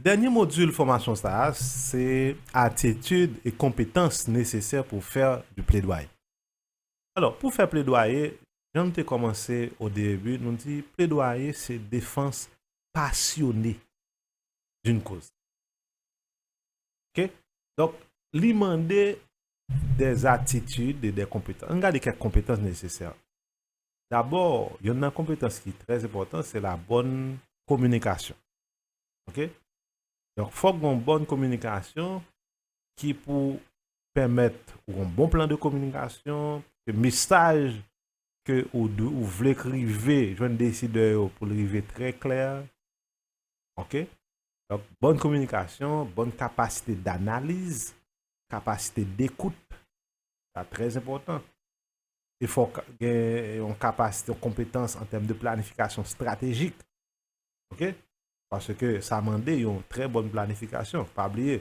Dènye modil fòmasyon sa a se atitid e konpetans nesesè pou fè du pledwaye. Alò, pou fè pledwaye, jan m te kòmanse o deebu, nou di pledwaye se defans pasyone d'un koz. Ok donk li mande dè atitid e dè konpetans ann gade kèk konpetans nesesè dabò yonn nan konpetans ki trè enpòtan se la bòn kominikasyon ok donk fòk gon bòn kominikasyon ki pou pèmèt ou gon bon plan de kominikasyon ke mesaj ke ou dwe ou vle k rive jwenn desidè yo pou l rive trè klè ok Donk, bòn kominikasyon, bòn kapasite danaliz, kapasite dekout, sa trè enpòtan. E fò w gen yon kapasite, yon konpetans an tèm de planifikasyon estratejik. Ok? Paske sa mande yon trè bòn planifikasyon. Pa bliye,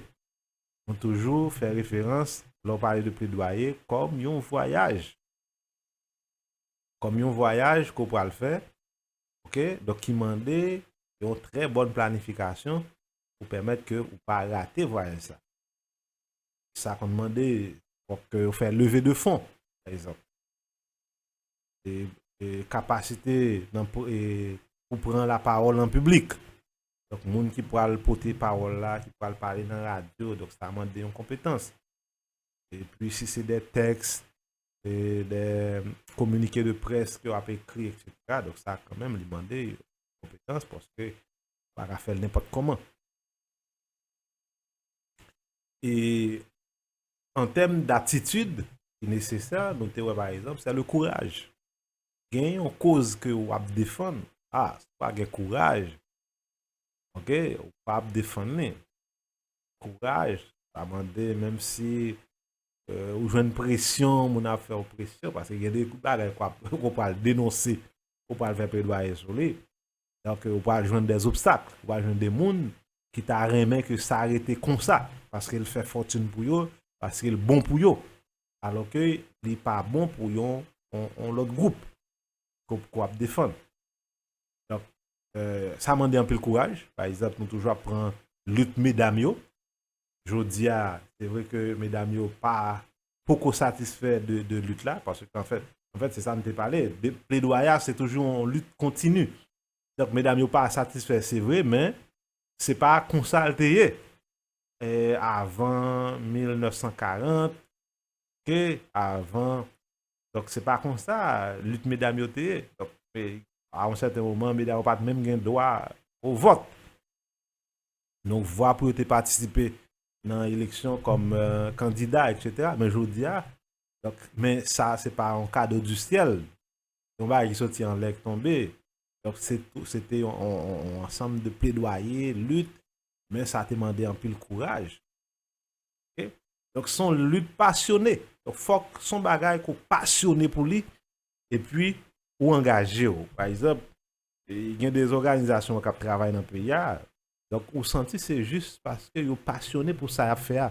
nou toujou fè referans lè w pale de pledwaye kòm yon vwayaj. Kòm yon vwayaj ke w pral fè ok donk ki mande yon trè bòn planifikasyon pou pèmèt ke ou pa rate vwayaj sa sa konn mande fòk ke yo fè leve de fon pa egzanp e kapasite nan pou pran la pawòl an piblik donk moun ki pwal pote pawòl la ki pwal pale nan radyo donk sa mande yon konpetans epi si se de tèks de kominike de près ke w ap ekri etc. Donk sa kan menm li mande yon konpetans paske ou pa ka fè l nenpòt kòman. E an tèm datitid ki nesesè nou te wè pa egzanp se le kouraj. Gen yon koz ke w ap defann a si w pa gen kouraj ok ou pa ap defann li. Kouraj sa mande menm si Ou jwenn presyon, moun ap fè ou presyon, paske gen de bagay ou pral denonse, ou pral fè pledwaye sou li, donk ou pral jwenn de zobstak, ou pral jwenn de moun ki ta renmen ke sa rete konsa, paske l fè fòtin pou yo, paske l bon pou yo, alò ke li pa bon pou yon lòt gwoup ke w ap defann. Donk, sa mande anpil kouraj, pa egzanp nou toujou ap pran lit medam yo, jodi a, se vre ke medam yo pa poko satisfè de lit la, paske an fèt, an fèt se sa nou te pale, pledwayaj se toujou yon lit kontini. Donk medam yo pa satisfè se vre, men se pa konsa l te ye avan 1940, ke avan, donk se pa konsa lit medam yo te ye. Donk a yon sèten moman medam yo pa t menm gen dwa o vòt. yon vwa pou yo te patisipe nan eleksyon kòm kandida etc. Men jodi a, donk, men sa se pa yon kado di syèl, se yon bagay ki soti anlè ki tonbe, donk se tou, se te yon ansanm de pledwaye, lit, men sa te mande anpil kouraj. Ok, donk se yon lit pasyone, donk fòk se yon bagay ke w pasyone pou li, epi ou angaje w. Pa egzanp, Gen de zoganizasyon kap travay nan peyi a, donk ou santi se jis paske yo pasyone pou sa yap fè a.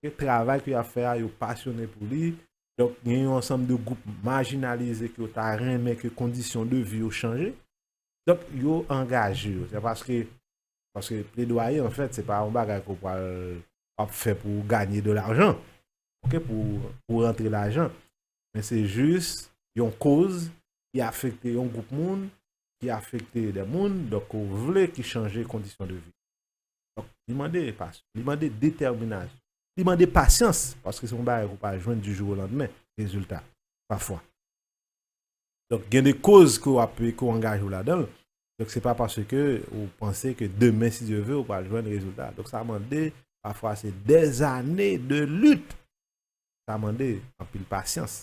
Ke travay ke yap fè a yo pasyone pou li, donk gen yon ansanm de gwoup majinalize ke yo ta renmen ke kondisyon de vi yo chanje, donk yo angaje yo. Se paske, paske pledwaye an fèt se pa yon bagay ke w pral, wap fè pou ganye de lajan, ok, pou rantre lajan. men se jis yon koz ki afekte yon gwoup moun, ki afekte dè moun, donk ou vle ki chanje kondisyon de vi. Donk, li mande pasyon, li mande detèminasyon, li mande pasyans, paske se yon bagay ou pa jwenn di jou o landmen, rezilta, pafwa. Donk, gen de koz ke w ap, ke w angaje w ladan l, donk se pa paske ou panse ke demen si Dye ve ou pral jwenn rezilta. Donk sa mande, pafwa se dèzane de lit Sa mande anpil pasyans.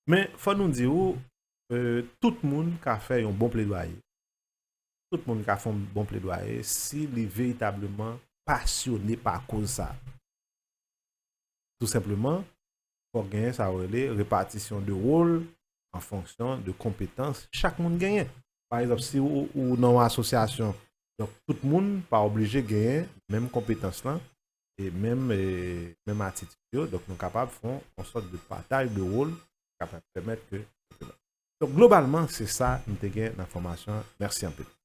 Men fò nou di ou, tout moun ka fè yon bon pledwaye. Tout moun ka fè yon bon pledwaye si li veritableman pasyone pa koz sa. Tou senpleman, fò gen sa yo rele repatisyon de wol an fonksyon de konpetans chak moun genyen. Pa egzanp, si ou nan yon asosyasyon, donk tout moun pa oblije genyen menm konpetans lan e menm e menm atitid yo donk nou kapab fon yon sòt de pataj de wol kapab pèmèt ke donk globalman se sa m te gen nan fòmasyon an mèsi anpil.